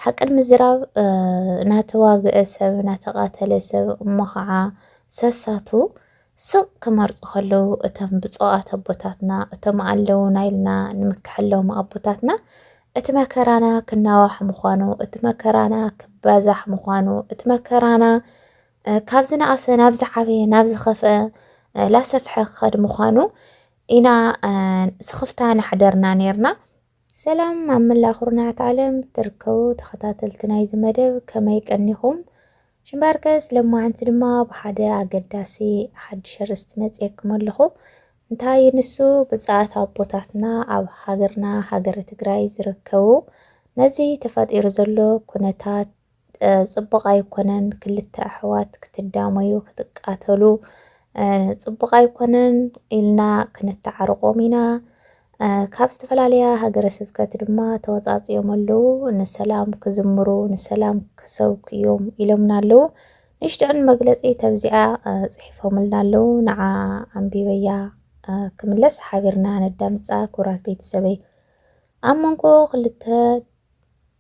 ሓቂ ንምዝራብ ናተዋገኤ ሰብ ናተቃተለ ሰብ እሞ ኻዓ ሰሳቱ ስቅ ክመርጹ ከለዉ እቶም ብጹኣት ኣቦታትና እቶም ኣለዉና ኢልና ንምከሐሎም ኣቦታትና እቲ መከራና ክናዋሕ ምዃኑ እቲ መከራና ክባዛሕ ምዃኑ እቲ መከራና ካብ ዝነኣሰ ናብ ዝዓበየ ናብ ዝኸፍአ ላሰፍሐ ክኸድ ምዃኑ ኢና ስኽፍታ ናሕደርና ኔርና ሰላም ኣብ መላእ ኩርናዓት ዓለም ትርከቡ ተኸታተልቲ ናይዚ መደብ ከመይ ቀኒኹም ሽምባርከስ ለማዓንቲ ድማ ብሓደ ኣገዳሲ ሓድሽ ኣርእስቲ መጽየኩም ኣለኹ እንታይ እዩ ንሱ ብጻኣት ኣቦታትና ኣብ ሃገርና ሃገረ ትግራይ ዝርከቡ ነዚ ተፈጢሩ ዘሎ ኩነታት ጽቡቅ ኣይኮነን ክልተ ኣሕዋት ክትዳመዩ ክትቃተሉ ጽቡቅ ኣይኮነን ኢልና ክንተዓርቆም ኢና ካብ ዝተፈላለያ ሃገረ ስብከት ድማ ተወፃፅዮም ኣለዉ ንሰላም ክዝምሩ ንሰላም ክሰብኩ እዮም ኢሎምና ኣለዉ ንሽጥዕን መግለፂ ተብዚኣ ፅሒፎምልና ኣለዉ ንዓ ኣንቢበያ ክምለስ ሓቢርና ነዳምፃ ኩራት ቤተሰበይ ኣብ መንጎ ክልተ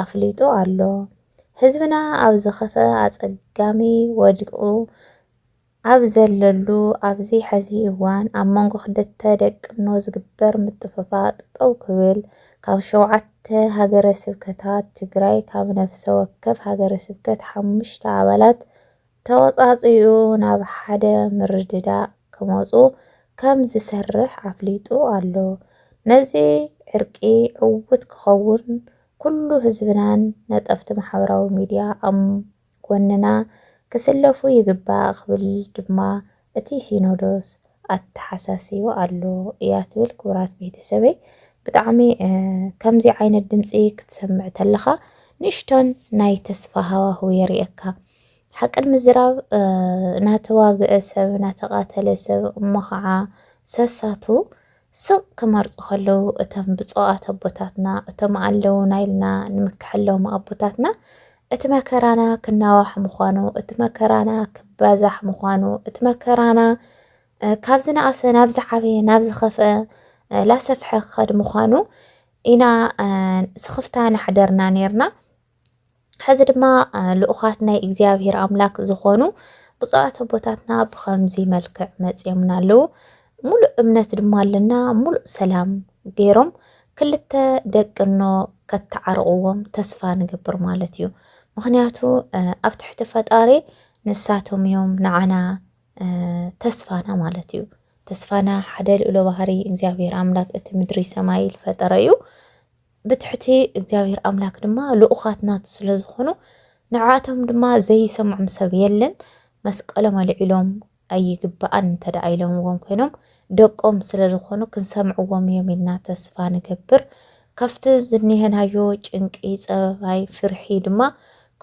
ኣፍሊጡ ኣሎ። ህዝብና ኣብ ዝኸፈኣ ኣጸጋሚ ወዲቑ ኣብ ዘለሉ ኣብዚ ሐዚ እዋን ኣብ መንጎ ክልተ ደቅኖ ዝግበር ምጥፍፋእ ጠጠው ክብል ካብ ሸውዓተ ሃገረ ስብከታት ትግራይ ካብ ነፍሰ ወከፍ ሃገረ ስብከት ሓሙሽተ ኣባላት ተወፃፂኡ ናብ ሓደ ምርድዳእ ክመፁ ከም ዝሰርሕ ኣፍሊጡ ኣሎ። ነዚ ዕርቂ ዕዉት ክኸውን ኩሉ ህዝብናን ነጠፍቲ ማሕበራዊ ሚዲያ ኣብ ጎንና ክስለፉ ይግባእ ክብል ድማ እቲ ሲኖዶስ ኣተሓሳሲቡ ኣሎ እያ ትብል ክቡራት ቤተሰበይ ብጣዕሚ ከምዚ ዓይነት ድምጺ ክትሰምዕ ተለኻ ንእሽቶን ናይ ተስፋ ሃዋህው የርእየካ ሓቅን ምዝራብ ናተዋግአ ሰብ ናተቃተለ ሰብ እሞ ኸዓ ሰሳቱ ስቕ ክመርጹ ከለዉ እቶም ብጾኣት ኣቦታትና እቶም ኣለዉና ኢልና ንምከሐሎም ኣቦታትና እቲ መከራና ክናዋሕ ምዃኑ እቲ መከራና ክባዛሕ ምዃኑ እቲ መከራና ካብ ዝነኣሰ ናብ ዝዓበየ ናብ ዝኸፍአ ላሰፍሐ ክኸድ ምዃኑ ኢና ስኽፍታ ናሕደርና ነርና። ሕዚ ድማ ልኡኻት ናይ እግዚኣብሔር ኣምላክ ዝኾኑ ብፁዓት ኣቦታትና ብኸምዚ መልክዕ መጺኦምና ኣለዉ። ሙሉእ እምነት ድማ ኣለና ሙሉእ ሰላም ገይሮም ክልተ ደቅኖ ከተዓርቕዎም ተስፋ ንገብር ማለት እዩ። ምክንያቱ ኣብ ትሕቲ ፈጣሪ ንሳቶም እዮም ንዓና ተስፋና ማለት እዩ። ተስፋና ሓደ ልኡለ ባህሪ እግዚኣብሔር ኣምላክ እቲ ምድሪ ሰማይ ልፈጠረ እዩ። ብትሕቲ እግዚኣብሔር ኣምላክ ድማ ልኡኻት ናቱ ስለ ዝኾኑ ንዓቶም ድማ ዘይሰምዖም ሰብ የለን መስቀሎም ኣልዒሎም ኣይግባኣን እንተደኣ ኢሎምዎም ኮይኖም ደቆም ስለ ዝኾኑ ክንሰምዕዎም እዮም ኢልና ተስፋ ንገብር ካብቲ ዝኒሀናዮ ጭንቂ ፀበባይ ፍርሒ ድማ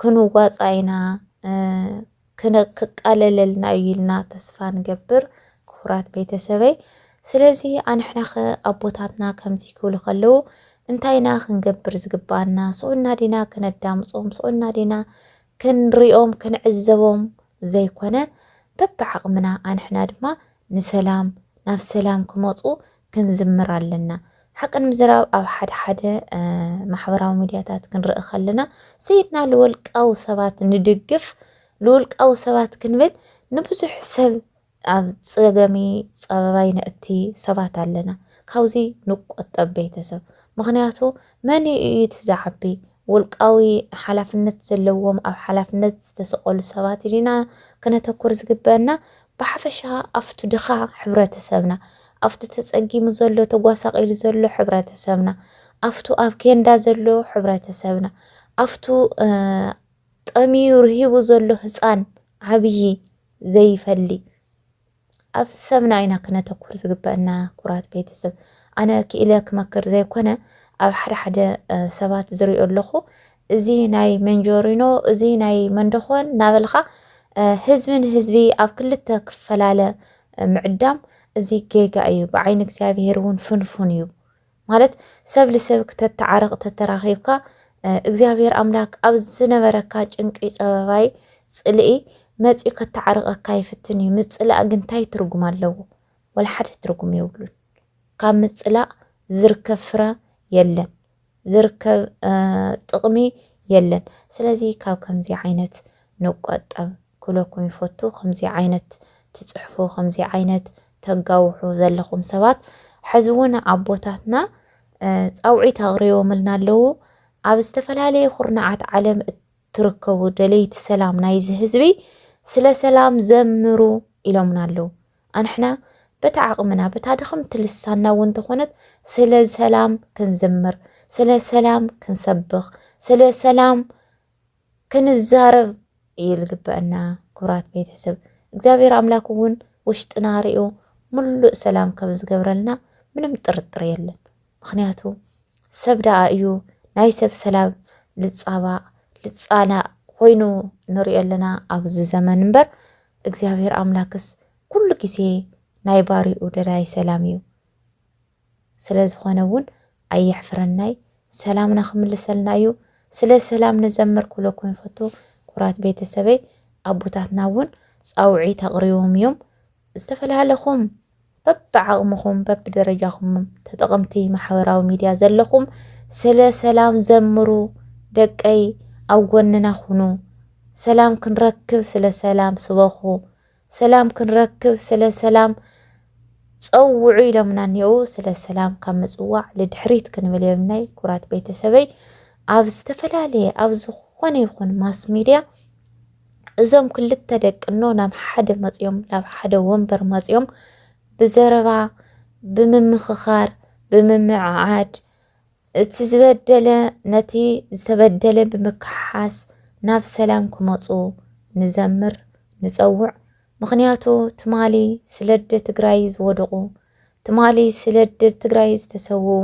ክንዋፃ ኢና ክቃለለልና እዩ ኢልና ተስፋ ንገብር ክቡራት ቤተሰበይ ስለዚ ኣንሕናኸ ኣቦታትና ከምዚ ክብሉ ከለዉ እንታይ ኢና ክንገብር ዝግብኣና ስኡልና ዲና ክነዳምጾም ስኡልና ዲና ክንሪኦም ክንዕዘቦም ዘይኮነ በብዓቕምና ኣንሕና ድማ ንሰላም ናብ ሰላም ክመጹ ክንዝምር ኣለና ሓቂ ንምዝራብ ኣብ ሓደ ሓደ ማሕበራዊ ሚድያታት ክንርኢ ከለና ሰይድና ልወልቃዊ ሰባት ንድግፍ ልውልቃዊ ሰባት ክንብል ንብዙሕ ሰብ ኣብ ፀገሚ ፀበባይ ነእቲ ሰባት ኣለና ካብዚ ንቆጠብ ቤተሰብ ምክንያቱ መን እዩ እቲ ዝዓቢ ውልቃዊ ሓላፍነት ዘለዎም ኣብ ሓላፍነት ዝተሰቀሉ ሰባት ዲና ክነተኩር ዝግበአና ብሓፈሻ ኣፍቱ ድኻ ሕብረተሰብና፣ ኣፍቱ ተጸጊሙ ዘሎ ተጓሳቂሉ ዘሎ ሕብረተሰብና፣ ኣፍቱ ኣብ ኬንዳ ዘሎ ሕብረተሰብና፣ ኣፍቱ ጠምዩ ርሂቡ ዘሎ ህጻን ዓብዪ ዘይፈሊ ኣብቲ ሰብና ኢና ክነተኩር ዝግበአና ኩራት ቤተሰብ። ኣነ ክኢለ ክመክር ዘይኮነ ኣብ ሓደ ሓደ ሰባት ዝሪኦ ኣለኹ እዚ ናይ መንጆሪኖ እዚ ናይ መንደኾን ናበልኻ ህዝቢ ንህዝቢ ኣብ ክልተ ክፈላለ ምዕዳም እዚ ጌጋ እዩ ብዓይኒ እግዚኣብሄር እውን ፍንፉን እዩ ማለት ሰብ ልሰብ ክተተዓረቕ ተተራኺብካ እግዚኣብሄር ኣምላክ ኣብ ዝነበረካ ጭንቂ ጸበባይ ጽልኢ መጺኡ ከተዓርቐካ ይፍትን እዩ ምጽላእ ግን እንታይ ትርጉም ኣለዎ ወላ ሓደ ትርጉም የብሉን ካብ ምጽላእ ዝርከብ ፍረ የለን ዝርከብ ጥቕሚ የለን ስለዚ ካብ ከምዚ ዓይነት ንቆጠብ ክብለኩም ይፈቱ ከምዚ ዓይነት ትጽሕፉ ከምዚ ዓይነት ተጋውሑ ዘለኹም ሰባት ሕዚ እውን ኣቦታትና ጻውዒት ኣቕሪቦምልና ኣለዉ ኣብ ዝተፈላለየ ኩርናዓት ዓለም እትርከቡ ደለይቲ ሰላም ናይዚ ህዝቢ ስለ ሰላም ዘምሩ ኢሎምና ኣለዉ ኣንሕና በታ ዓቕምና በታ ድኽምቲ ልሳንና እውን ተኾነት ስለ ሰላም ክንዝምር ስለ ሰላም ክንሰብኽ ስለ ሰላም ክንዛረብ እዩ ልግበእና ክብራት ቤተሰብ እግዚኣብሔር ኣምላክ እውን ውሽጥና ሪኦ ምሉእ ሰላም ከም ዝገብረልና ምንም ጥርጥር የለን። ምኽንያቱ ሰብ ደኣ እዩ ናይ ሰብ ሰላም ልጻባእ ልጻላእ ኮይኑ ንሪኦ ኣለና ኣብዚ ዘመን እምበር እግዚኣብሔር ኣምላክስ ኩሉ ግዜ ናይ ባሪኡ ደላይ ሰላም እዩ ስለ ዝኾነ እውን ኣየሕፍረናይ ሰላምና ክምልሰልና እዩ ስለ ሰላም ንዘምር ክብለኩም ይፈቱ ኩራት ቤተሰበይ ኣቦታትና እውን ፃውዒት ኣቕሪቦም እዮም ዝተፈላለኹም በብዓቕምኹም በብደረጃኹም ተጠቐምቲ ማሕበራዊ ሚድያ ዘለኹም ስለ ሰላም ዘምሩ ደቀይ ኣብ ጎንና ኩኑ ሰላም ክንረክብ ስለ ሰላም ስበኹ ሰላም ክንረክብ ስለ ሰላም ጸውዑ ኢሎምና እኔዉ ስለ ሰላም ካብ ምጽዋዕ ልድሕሪት ክንብል የብልናይ ኩራት ቤተሰበይ ኣብ ዝተፈላለየ ኣብ ዝኾነ ይኹን ማስ ሚድያ እዞም ክልተ ደቅኖ ናብ ሓደ መፅዮም ናብ ሓደ ወንበር መፅዮም ብዘረባ ብምምኽኻር ብምምዕዓድ እቲ ዝበደለ ነቲ ዝተበደለ ብምክሓስ ናብ ሰላም ክመፁ ንዘምር ንፀውዕ ምኽንያቱ ትማሊ ስለደ ትግራይ ዝወደቑ ትማሊ ስለደ ትግራይ ዝተሰውኡ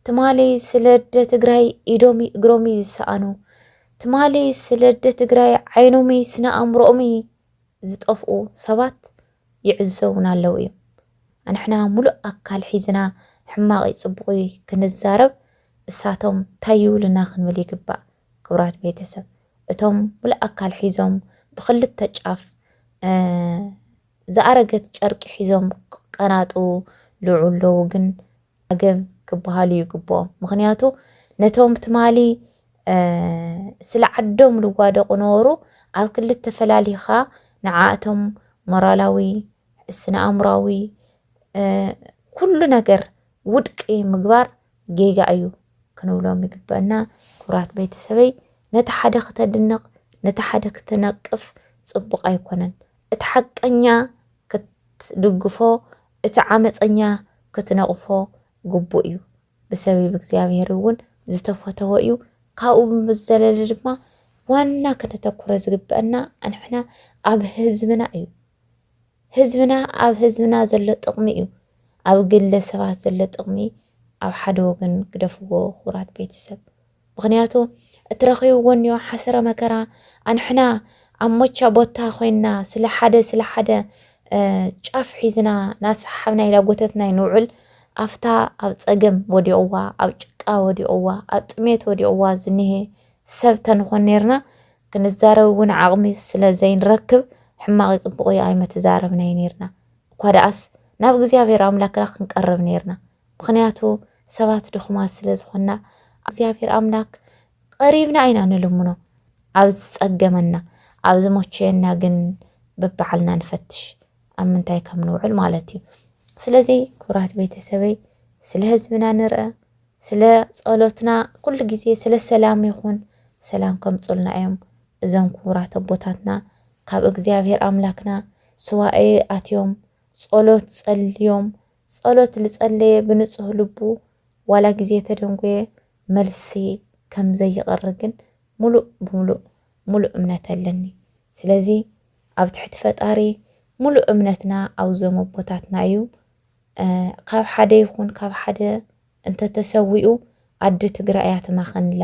ትማሊ ስለደ ትግራይ ኢዶሚ እግሮሚ ዝሰኣኑ ትማሊ ስለደ ትግራይ ዓይኖምይ ስነ ኣእምሮኦምይ ዝጠፍኡ ሰባት ይዕዘቡና ኣለው እዮም። ኣንሕና ሙሉእ ኣካል ሒዝና ሕማቕይ ፅቡቕይ ክንዛረብ እሳቶም ታይ ይብሉና ክንብል ይግባእ ክብራት ቤተሰብ እቶም ሙሉእ ኣካል ሒዞም ብክልተ ጫፍ ዝኣረገት ጨርቂ ሒዞም ክቀናጥው ልዑ ኣለው ግን ዓገም ክበሃሉ ይግብኦም ምክንያቱ ነቶም ትማሊ ስለ ዓዶም ልዋደቁ ነበሩ ኣብ ክልተ ፈላሊካ ንዓኣቶም ሞራላዊ ስነኣእምራዊ ኩሉ ነገር ውድቂ ምግባር ጌጋ እዩ ክንብሎም ይግበእና ክብራት ቤተሰበይ ነቲ ሓደ ክተድንቅ ነቲ ሓደ ክትነቅፍ ጽቡቅ ኣይኮነን እቲ ሓቀኛ ክትድግፎ እቲ ዓመጸኛ ክትነቕፎ ግቡእ እዩ፣ ብሰቢብ እግዚኣብሄር እውን ዝተፈተወ እዩ፣ ካብኡ ብዝዘለለ ድማ ዋና ክነተኩረ ዝግበእና ኣንሕና ኣብ ህዝብና እዩ፣ ህዝብና ኣብ ህዝብና ዘሎ ጥቕሚ እዩ፣ ኣብ ግለ ሰባት ዘሎ ጥቕሚ ኣብ ሓደ ወገን ግደፍዎ ክቡራት ቤተሰብ። ምክንያቱ እትረኺብዎ እኒኦ ሓሰረ መከራ ኣንሕና ኣብ ሞቻ ቦታ ኮይንና ስለ ሓደ ስለ ሓደ ጫፍ ሒዝና ናሰሓብና ኢላ ጎተትና ይንውዕል ኣፍታ ኣብ ፀገም ወዲቕዋ ኣብ ጭቃ ወዲቕዋ ኣብ ጥሜት ወዲቕዋ ዝኒሄ ሰብ ተንኾን ነርና ክንዛረብ እውን ዓቕሚ ስለ ዘይንረክብ ሕማቕ ይፅቡቕ እዩ ኣይመተዛረብናይ ነርና እኳ ደኣስ ናብ እግዚኣብሔር ኣምላክና ክንቀርብ ነርና ምኽንያቱ ሰባት ድኹማት ስለ ዝኾንና እግዚኣብሔር ኣምላክ ቐሪብና ኢና ንልምኖ ኣብ ዝፀገመና ኣብ ዝሞቸየና ግን በባዕልና ንፈትሽ ኣብ ምንታይ ከም ንውዕል ማለት እዩ ስለዚ ክብራት ቤተሰበይ ስለ ህዝብና ንርአ ስለ ጸሎትና ኩሉ ግዜ ስለ ሰላም ይኹን ሰላም ከምጹልና እዮም እዞም ክቡራት ኣቦታትና ካብ እግዚኣብሔር ኣምላክና ስዋኤ ኣትዮም ጸሎት ጸልዮም ጸሎት ልጸለየ ብንጹህ ልቡ ዋላ ግዜ ተደንጎየ መልሲ ከም ዘይቕሪ ግን ሙሉእ ብሙሉእ ሙሉእ እምነት ኣለኒ ስለዚ ኣብ ትሕቲ ፈጣሪ ሙሉእ እምነትና ኣውዞም ኣቦታትና እዩ ካብ ሓደ ይኹን ካብ ሓደ እንተተሰዊኡ ኣዲ ትግራይ እያ ትማኸንላ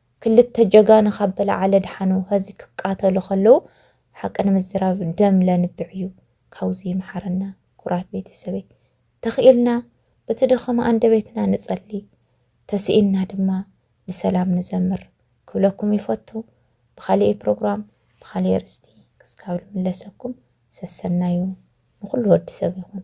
ክልተ ጀጋኑ ካብ በላዓለ ድሓኑ ሀዚ ክቃተሉ ከለዉ ሓቂ ንምዝራብ ደም ለንብዕ እዩ ካውዚ ይምሓረና ኩራት ቤተሰበይ ተኺኢልና ብቲ ድኸም ኣንደቤትና ንጸሊ ተሲኢንና ድማ ንሰላም ንዘምር ክብለኩም ይፈቱ ብኻሊኤ ፕሮግራም ብኻሊኤ ኣርእስቲ ክስካብ ልምለሰኩም ሰሰናዩ ንኹሉ ወዲ ሰብ ይኹን።